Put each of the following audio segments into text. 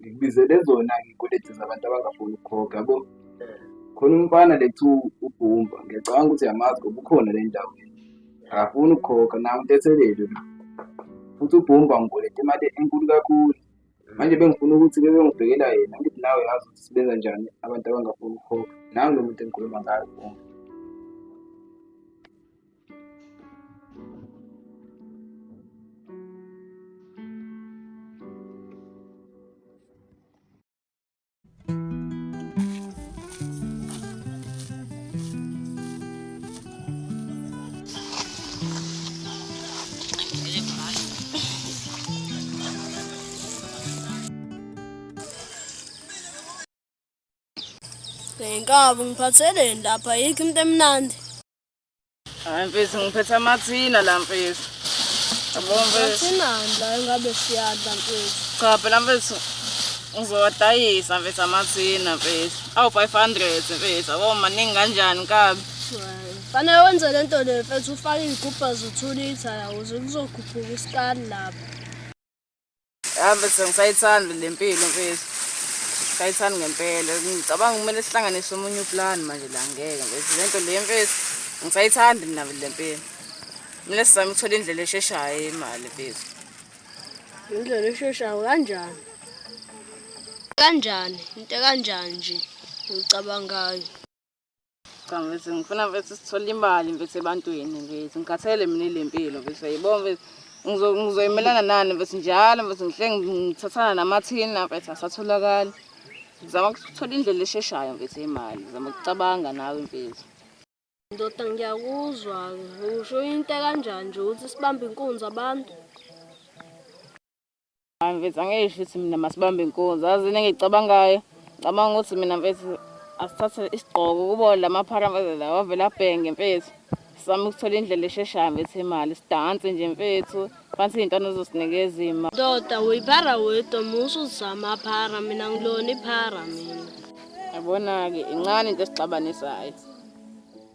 ngikubizele zona ngiykoledi zabantu abangafuni ukukhokha yabo khona umfana lethu ubhumba ngiyacabanga ukuthi yamazi ngoba ukhona le ndawo akafuni ukukhokha nawo ntethelelo la futhi ubhumba ngikoleta imali enkulu kakhulu manje bengifuna ukuthi bebe ngibhekela yena ngithi nawe yazi ukuthi sibenza njani abantu abangafuni ukukhokha nangu lo muntu engikhuluma ngayo bhumba Ngenkabi ngiphatheleni lapha yikho into emnandi. Hayi mfethu ngiphethe amathina la mfethu. Yabo mfethu. Athina la ngabe siyadla mfethu. Cha phela mfethu ngizowadayisa mfethu amathina mfethu. Awu 500 mfethu. Yabo maningi kanjani kabi. Fanele wenze le nto le mfethu ufake iy'gubha zo-two litha yakuze kuzokhuphuka isikali lapho. Yabe sengisayithanda le mpilo mfethu. Sayithanda ngempela. Ngicabanga kumele sihlanganise omunye uplan manje la ngeke mfethu. Le nto le mfethu ngisayithanda mina le mpilo. Mina sizama ukuthola indlela esheshayo imali mfethu. Indlela esheshayo kanjani? Kanjani? Into kanjani nje? Ngicabangayo. Cha mfethu ngifuna mfethu sithole imali mfethu ebantwini mfethu ngikhathele mina ile mpilo mfethu yebo mfethu ngizo- ngizoyimelana nani mfethu njalo mfethu ngihle ngithathana namathina mfethu asatholakali ngizama ukuthola indlela esheshayo mfethu yemali ngizama ukucabanga nawe mfethu Ndoda ngiyakuzwa-ke. Usho into kanjani nje ukuthi sibambe inkunzi abantu? Hayi mfethu angisho ukuthi mina masibambe inkunzi. Azi into engiyicabangayo, ngicabanga ukuthi mina mfethu asithathe isigqoko kubo la maphara mfethu la wavele abhenge mfethu. Sizame ukuthola indlela esheshayo mfethu yemali, sidanse nje mfethu, phansi iy'ntwana zosinikeza imali. Ndoda uyiphara wedwa musa uzama phara mina ngilona iphara mina. Yabona-ke incane into esixabanisayo.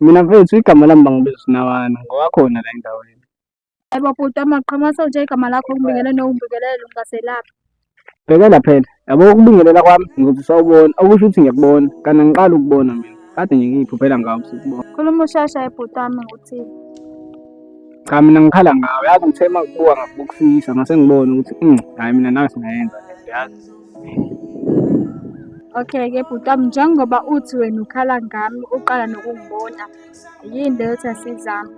Mina mfethu igama lami bangibiza uSinawana ngowakhona la endaweni. Yebo bhuti amaqhamu asonje igama lakho ngibingelele nowungibingelele ungaselaphi. Bhekela phela yabo ukubingelela kwami ngoba usawubona okusho ukuthi ngiyakubona kana ngiqala ukubona mina kade nje ngiyiphuphela ngawo sikubona. Khuluma ushasha ebhuti wami ngikuthini. Cha mina ngikhala ngawe yazi ngithema ukubuka ngakubukisisa ngase ngibone ukuthi mm hayi mina nawe singayenza le nto yazi. Okay ke bhuti wami njengoba uthi wena ukhala ngami uqala nokungibona yini leyo ethi asizame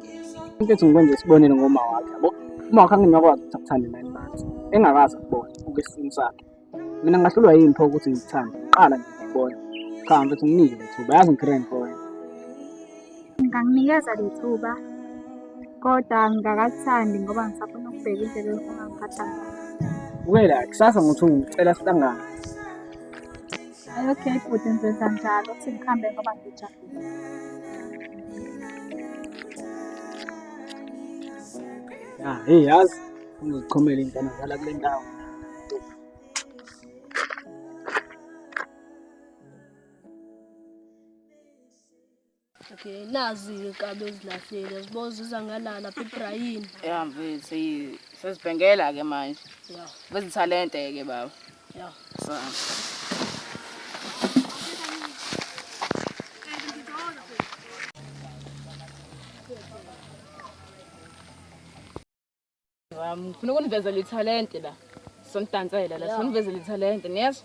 into ethi ngikwenze isibonelo ngoma wakhe yabo uma wakhe anginakwazi ukuthi akuthande nine months engakazi kubona ukwesintu sakhe mina ngahlulwa yini pho ukuthi ngikuthande qala ngikubona cha mfethu nginike lethuba yazi ngikhireni for wena Ngingakunikeza lethuba kodwa ngingakakuthandi ngoba ngisafuna ukubheka indlela engifuna ngiphatha ngayo. Wela kusasa ngothi ngicela sihlangane. Ay okay bhuti ngenza njalo ukuthi ngihambe ngoba ngijabule. Ya, hey yazi ungizichomela ingane zala kule ndawo. Okay, nazi inkabi ezilahlile. Zibo ziza ngalala phi Brian? Yeah mfethu, yi- sezibhengela ke manje. Yeah, Bezithalente ke baba. yeah. So. Wami, ngifuna ukunivezela ithalente la. Sonidansela la, sonivezela ithalente, niyezwa?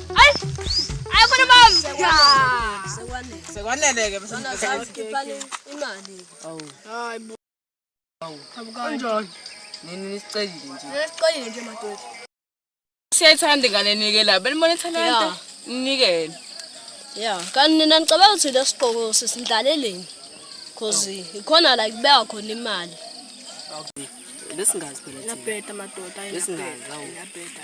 Sekwanele-ke nini nisicelile nje nisicelile nje madoda siyayithanda ingane nike la benibona ithalente ninikele ya kanti nina nicabanga ukuthi le siqoko sisindlaleleni cause ikhona la kubeka khona imali okay lesingazi phela thina labheda madoda lesingazi awu labheda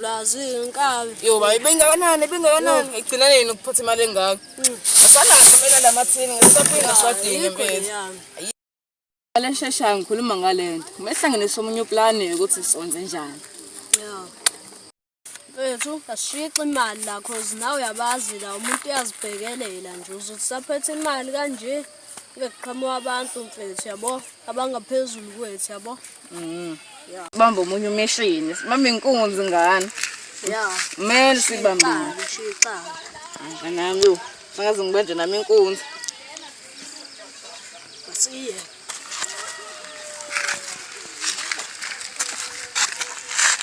Lazi inkabi. Yo bayi bengakanani bengakanani igcina nini ukuphotha imali engaka. Mm. Asana ngizomela lamathini ngisaphinda swadini impela. Ngale shesha ngikhuluma ngalento. Mehlanganisa omunye uplan ukuthi sonze njani. Yeah. Mfethu ashixe imali la cause nawe uyabazi la umuntu uyazibhekelela nje uzothi saphethe imali kanje. Kube kuqhamuka abantu mfethu yabo abangaphezulu kwethu yabo. Mhm. Yeah. Bamba omunye umeshini. Simama inkunzi ngane. Yeah. Mele sibambile. Shixa. Anga nami yo. Sangaze ngibanje nami inkunzi. Basiye.